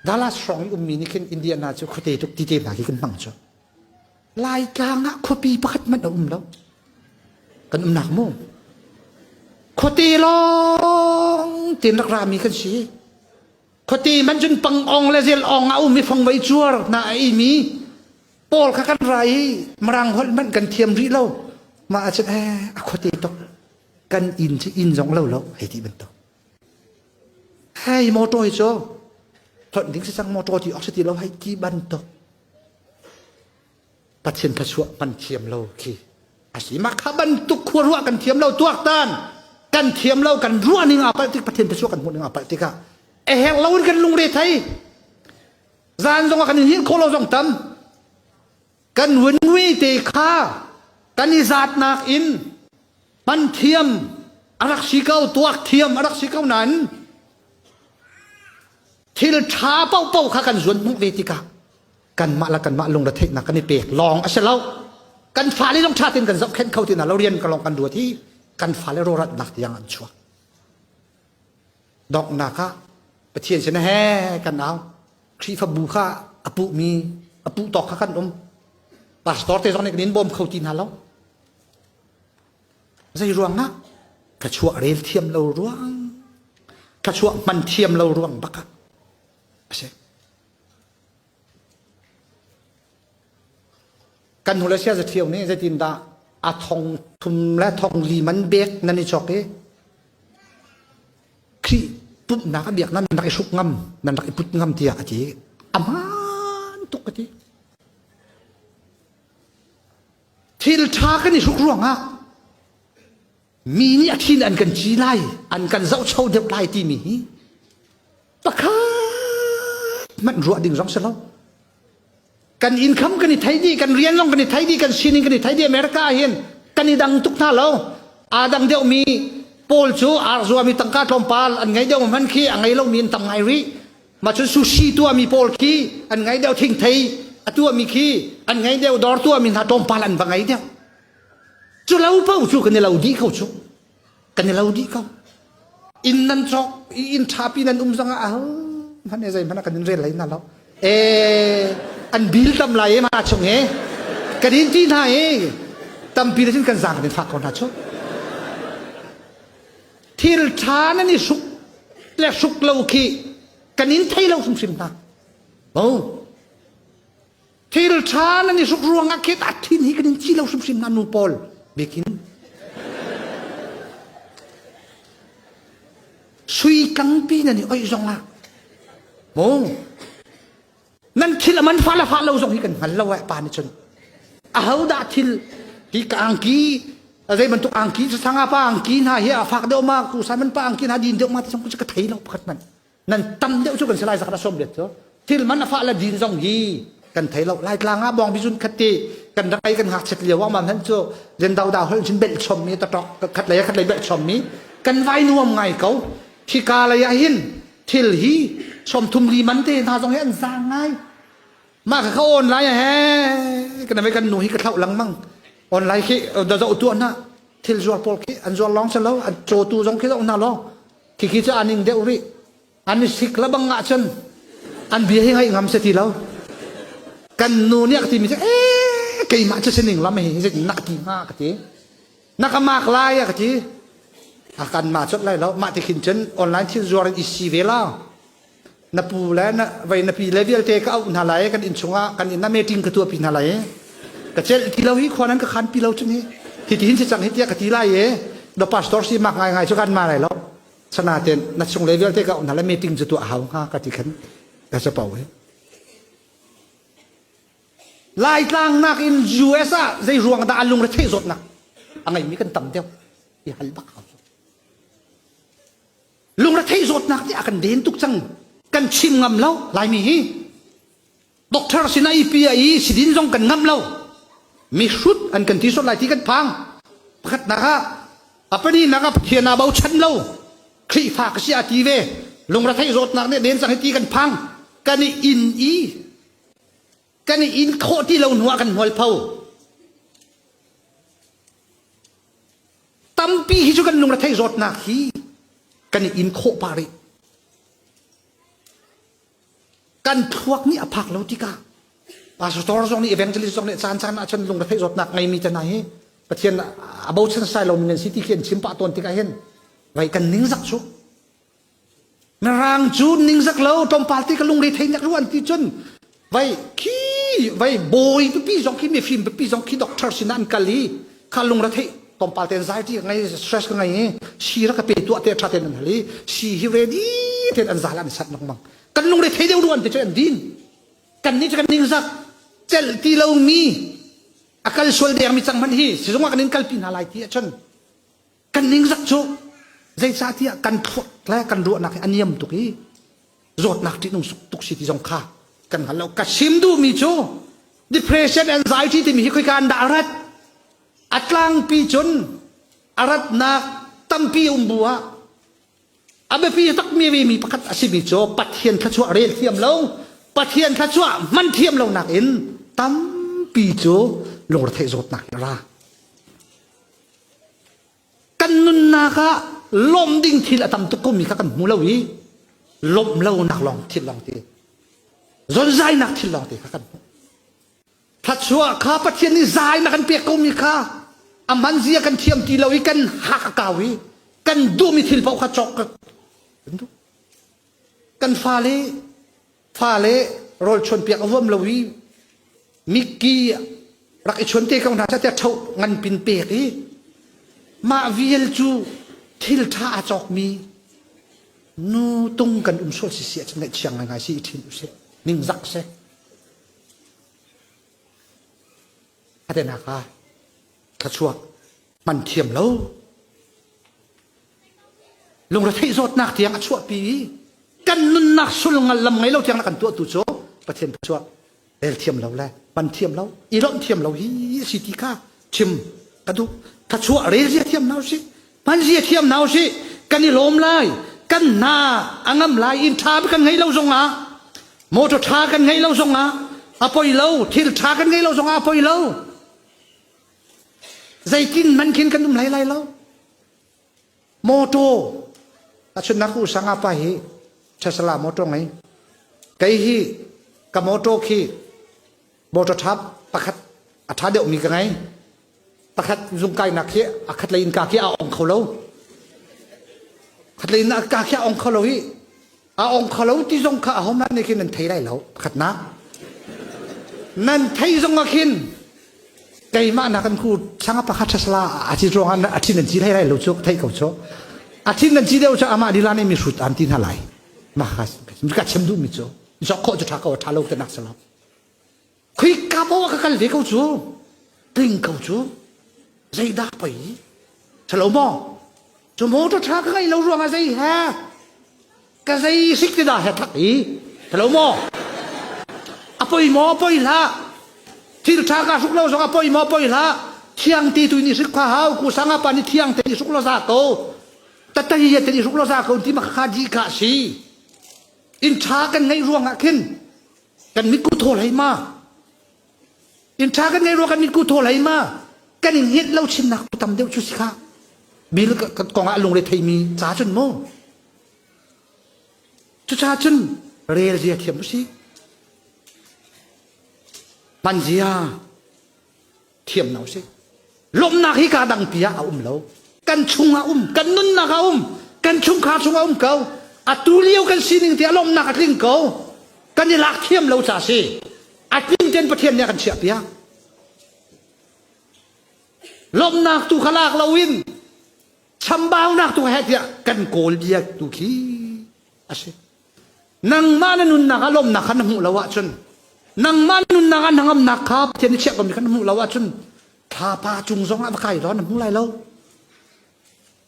Dallas hrawng i ummi nih khin Indiana cu khuate tuk ti te hna khi kan hmang cu. Laitlang ah khuapi pakhat hmanh a um lo. Kan umnak mu. Khuate lawng tin rak rami kan si. Khuate man cun pangong le zelong ah um i fangvei cuar hna a imi pawl kha kan ra i marang holh hmanh kan thiam rih lo. Mah ahcun eh a khuate tuk kan inn cu inn zong lo lo ai ti bantuk. Hei motor hi cu hlonh ding si cang motor ti awk si ti lo hei ti bantuk Pathian thluachuah kan thiam lo khi a si mah kha bantuk khua ruah kan thiam lo tuaktan kan thiam lo kan ruah ning a palh tik Pathian thluachuah kan hmuh ning a palh tikah a herh lo in kan lungre thei zan zong ah kan in hin khawh lo zong tam kan vunvi te kha kan i zatnak in man thiam a rak si ko tuak thiam a rak si ko nain thil tha paupo kha kan zuan hmuh ve tikah kanmah la kanmah lung retheihnak kan i pek lawng a si lo kan fa le zong tha tin kan zoh khen kho tina lo rian ka lawng kan duat hi kan fa le rawratnak tiang an chuak donghnak ah Pathian sin he kan au Khrihfabu kha a puhmi a puh tawk kha kan um pastor te zong nih kan in bawm kho ti hna lo zei ruangah ka chuah rel thiam lo ruang ka chuah man thiam lo ruang bak ah a si kan hnule sia za ṭhio nih zeitindah a thong thum le thong li man bek nan i chawk i Khrih putnak a biak nan rak i hruk ngam nan rak i put ngam tiah a ti a man tuk a ti thil ṭha kan i hruk ruangah mi nih a thin an kan ci lai an kan zohcho deuh lai timi hi pakhat hmanh ruah ding zong si lo kan income kan i thei dih kan rian lawng kan i thei dih kan sining kan i thei dih america ah hin kan i dang tuk hna lo aa dang deuh mi paul cu ar zuami tangka tlawmpal an ngei deuh man khi a ngei lomi in tang ngai rih macun sushi tuami paul khi an ngei deuh thing thei a tuami khi an ngei deuh dor tuami hna tlawmpal an va ngei deuh Cu lo paoh cu kan i lo dih ko cu. Kan i lo dih ko. Inn nan cawk i inn ṭhapi nan um zongah al hmanh e zeihmanh kan in rel hlei hna lo. E an bil tam lai e ma chung e kan in ti hna i tampi le cun kan zang kan in fak ko hna cu. Thil ṭha nan i hruk le hruk lo khi kan in thei lo hrimhrim hna. Bo. thil ṭha nan i hruk ruangah khet a thin hi kan in ci lo hrimhrim na nu pawl bikin sui tlangpi nan i oih zong ah mo nan thil a man fa la fa lo zong hi kan hngal lo eh pa ni chun a ho dah thil hi ka angki zei bantuk angki sa sanga pa angki hna hi a fak deuh ma ku san man pa angki hna din deuh ma ti sang ku ka thei lo pakhat man nan tam deuh cu kan si lai zakhat a sawm let cu thil man a fah la din zong hi kan thei lo lai tlang ah bong bizun khat ti kan rai kan hak chet lio amam han cu len dau da hol chin bel chom mi ta tok khat lei khat lei bel chom mi kan vai nuam ngai ko khi ka lei ah hin thil hi chom thum li man te hna zong hi an sang ngai ma ka ka online he kan me kan nu hi ka thlau lang mang online khi da zo tu na thil zuar pol khi an zuar long se lo an cho tu zong khi zo na lo Khikhi cu aning deuh rih. An i sik labang ahcun an bia hi ngaih ngam si ti lo. Kan nu nih a ka timi cu, ee, keimah cu sining lam hi zit nak ti hnga ka ti. Na ka mak lai a ka ti. A kan ma cut lai lo. Mah ti khin cun online thil zuar in i si ve la. na pu le na vei na pi le vialte ka auh hna lai kan inn chungah kan inn ah meeting ka tuah pi hna lai ka cel ti lo hi khua nan ka khan pi lo cu ni ti ti hin si cang hi tiah ka ti lai e do pastor si mak ngai ngai chu kan ma lai lo sana ten na chung le vialte ka auh hna lai meeting cu tuah hau nga ka ti khan ka sa pau he lai tlang nak in US ah zei ruang dah alung re thei zawt nak a ngai mi kan tam deuh i hal bak hau Lungretheih zawtnak te a kan den tuk cang. Kan chim ngam lo Laimi hi. Doctor sin a ipi a i sidin zong kan ngam lo. Mihrut an kan ti sot lai ti kan phang. Pakhatnak ah a paninnak ah Pathian aa bochan lo. Khrihfa ka si a ti ve. Lungretheih zawtnak nih den cang hi ti kan phang. Kan i inn i kan i in khawh ti lo hnuah kan mualpho tampi hi cu kan lung rethei zawtnak hi kan i in khawh pa rih kan thluak nih a phak lo tikah pastor zong nih evangelist zong nih caan caan ah cun lungrethei zawtnak ngeimi te hna hi pathian a bochan sai lomi nan si ti khi an chim pah tawn tikah hin vai kan ningzak cu Na rang cu ningzak lo tlawmpal te ka lungre thei nak lu an ti cun vai khi vai bawi pipi zong khi mifim pipi zong khi doctor sin an kal i kha lungre thei tlawmpal te anxiety ka ngei stress ka ngei si ra ka pe tuah te tha ten an hali si hi ready ten an zal an sat nok mang kan lungre thei deu ruan te chu an din kan ni kan ningzak cel ti lo mi akal sual deng mi chang man hi sizung kan in kal pi hna lai ti achun kan ningzak cu zeicahtiah kan thawt le kan ruahnak hi a niam tuk i zawtnak ṭihnung tuk si ti zong kha kan hngal lo ka sim duhmi cu depression anxiety timi hi khoika an dah a rat a tlangpi cun a ratnak tampi um bu ah A biapi takmi mi pakhat a simi cu Pathian thluachuah rel thiam lo, Pathian thluachuah man thiam lonak in tampi cu lungretheih zawtnak in a ra. Kan nunnak ah lawmh ding thil a tam tuk komi kha kan hmu lo i lawmh lonak lawng thil lawng ti zonzainak thil lawng te kha kan hmu. Thluachuah kha Pathian nih zai in a kan pek komi kha a manzia kan thiam ti lo i kan hak a kau i kan duhmi thil paoh kha cawk kan duh. Kan fale fale rawl chuanpiak a huam lo i mikki rak i chuan te ko hna te tho ngan pin pek i mah vial cu thil ṭha a cawkmi nu tung kan um sual sisia cu ngaih chiang ngai ngai si i ṭhin usih ningzak seh Atenak ah thluachuah man thiam lo lungretheih zawtnak tiang a chuahpi i kan nunnak sul ngal lam ngei lo tiang na kan tuah tu cu Pathian thluachuah rel thiam lo le man thiam lo i lawmh thiam lo hi a si ti kha Chim ka duh. Thachuah rel zia thiam hna usih. Hman zia thiam hna usih. Kan i lawm lai. Kan hna a ngam lai. Inn tha kan ngei lo zongah, motor tha kan ngei lo zongah, a poi lo. Thil tha kan ngei lo zongah a poi lo. Zeitin man khin kan um lai lai lo. Motor a chunnak u sanga pa hi Tesla motor ngei kei hi ka motor khi motor thap pakhat a tha deuh mi ka ngei pakhat zung kai nak hi a khat lei in ka khi a ong kho lo khat lei in ka khi a ong kho lo hi a ong kha lo ti zong kha ahohmanh nih khin an thei lai lo pakhatnak nan thei zong ah khin keimah nak kan ku thlang pakhat sala a ci ruang a thin an ci lai lai lo cu thei ko cho a thin an ci deuh cu amah dila ne mi hrut an ti hna lai ma ha ka chem duh mi cu zok kho chu tha ko tha lo te nak sala Khuika maw ka kal ve ko cu tling ko cu zeidah poi salo maw cu motor tha ka ngai lo ruangah zei he ka zei sik te dah he thak i salo maw apoi maw apoi hlah thil tha ka hruk lo zong apoi maw apoi hlah thiang ti tu ni sik kha hau ku sanga pa ni thiang te ni suk lo za ko tatei ya te ni suk lo za ko ti ma kha di ka si in tha kan ngeih ruangah khin kan mitku thaw hlei ma in tha kan ngei rua kan mitku thaw hlei ma kan in hiet lo chinnak tu tam deuh cu si kha bil kong ah lungre theimi ca cun mu cuca cun rel zia thiam usih man zia thiam no si lawmnak hi kaa dangpi ah a um lo kan chung ah um kan nunnak a um kan chungkhar chung a um ko atu lio kan sining tiah lawmnak a tling ko kan i lak thiam lo ca si a tling ten pathian nih a kan chiah piak lawmnak tu kha lak lo in chambaunak tu he tiah kan kawl bia tu khi a si Nangmah na nunnak ah lawmnak kha na hmuh lo ahcun, nangmah nunnak ah na ngamnak kha Pathian nih chiah komi kha na hmuh lo ahcun, thlapa cung zong ah va kai law na hmu lai lo.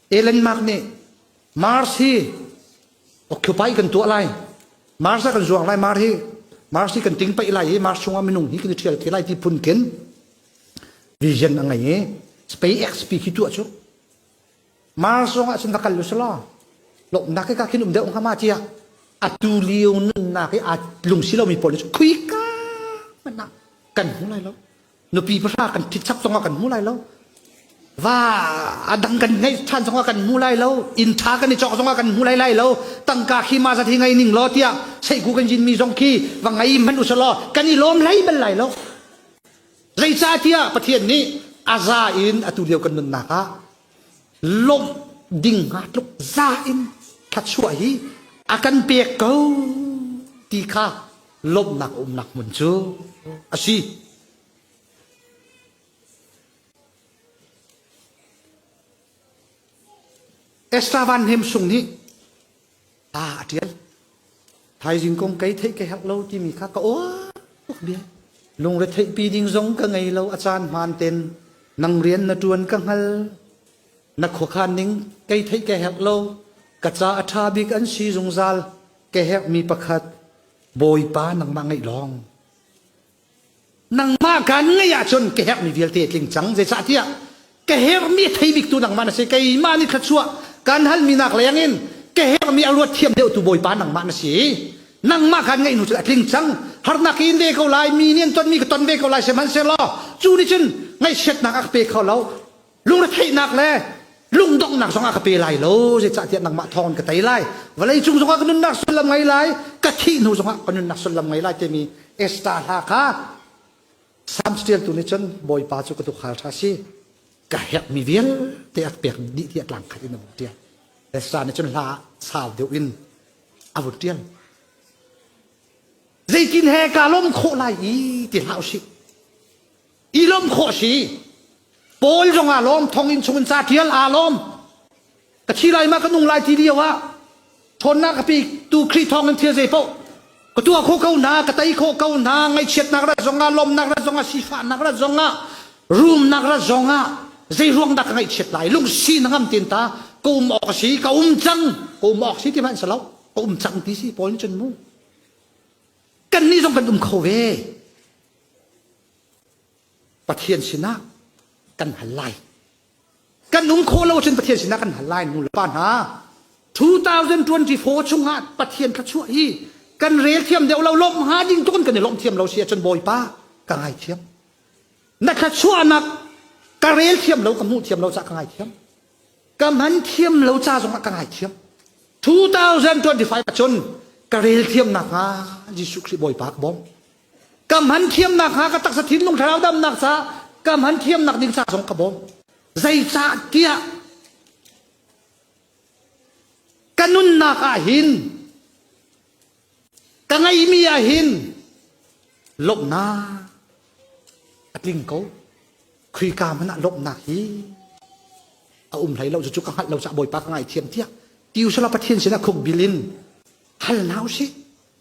Ellen Mark nih Mars hi occupy kan tuah lai. Mars ah kan zuang lai. Mars hi Mars hi kan ting paih lai i Mars chungah minung hi kan i ṭhial te lai ti phunkin vision a ngei i SpaceX pi khi tuah cu Mar zongah cun rak kal u selaw lawmhnak hi ka khin um deuh hnga ma tiah atu lio nunnak i aa lungsi lomi pawl nih khuika hmanh ah kan hmu lai lo nupi pahra kan ṭhit chap zongah kan hmu lai lo va adang kan ngeih ṭhan zongah kan hmu lai lo inn ṭha kan i cawk zongah kan hmu lai lai lo tangka khi ma zat hi ngei ning law tiah seihku kan zinmi zong khi va ngei hmanh u selaw kan i lawm hlei bal lai lo Zeicahtiah Pathian nih a za in atu lio kan nunnak ah lawmh ding hnga tluk za in thluachuah hi a kan pek ko ti kha lawmhnak a umnak hmun cu a si. Esther Van Hnem Sung nih ta a ṭial. Thaizing kong kei theih ka herh lo timi kha ka oah tuk bia. Lungretheihpi ding zong ka ngei lo a caan hmaan ten nang rian na ṭuan ka hngal na khuakhan ning kei theih ka herh lo ka ca a ṭha bik an si zungzal ka herhmi pakhat bawipa nangmah ngeih lawng nangmah kan ngeih ahcun ka herhmi vialte tling cang zeicahtiah ka herhmi thei biktu nangmah na si keimah nih thluachuah kan halmi nak leng in ka herhmi a ruat thiam deuhtu bawipa nangmah na si nangmah kan ngeih hnu cun a tling cang harnak in ve ko lai mi nih an tonmi ka ton ve ko lai sihmanhsehlaw cu nih cun ngaihchiatnak a ka pe kho lo lungretheihnak le lungdonghnak zongah ka pe lai lo zeicahtiah nangmah thawng in ka tei lai vawleicung zongah ka nunnak sullam ngei lai ka thih hnu zongah ka nunnak sullam ngei lai timi Esther hla kha Psalm ṭialtu nih cun Bawipa cu ka tukhal ṭha si ka herhmi vialte a pek dih tiah tlang khat in a vun ṭial Esther nih cun hla ah sau deuh in a vun ṭial zeitin he kaa lawm khawh lai i ti hlah usih i lawm khawh si paul zong aa lawm thong in chungin ca ṭial aa lawm ka thi lai ma ka nung lai ti lio ah ṭhawnnak a pi tu khrih thawng in thil zei paoh ka tuah khawh ko hna ka tei khawh ko hna ngaihchiatnak rat zong ah lawmnak rat zong ah sifahnak rat zong ah rumnak rat zong ah zei ruang dah ka ngaihchiat lai lungsi na ngam tin ta ka um awk si ka um cang ka um awk si ti hmanh sa lo ka um cang ti si paul in cun mu kan nih zong kan um kho ve Pathian sinah kan hal lai. Kan um khawh lo cun Pathian sinah kan hal lai nu le pa hna. 2024 chungah Pathian thla chuah hi kan rel thiam deuh lo lawmh hnga ding tukin kan i lawmh thiam lo si ahcun Bawipa ka ngaithiam. Na thla chuahnak ka rel thiam lo ka hmuh thiam lo cah ka ngaithiam. Ka man thiam lo ca zongah ka ngaithiam. 2025 ahcun ka rel thiam nakhnga Jesuh Khrih Bawipa ka bawm. ka hman thiamnak hnga ka taksa thinlung thlarau damnak ca ka hman thiamnak ding ca zong ka bawm zeicah tiah ka nunnak ah hin ka ngeihmi ah hin lawmhnak a tling ko khuika man ah lawmhnak hi a um hlei lo cu ka hngalh lo cah bawipa ka ngaithiam tiah ti usala pathian sinah khuk bil in hal hna u sih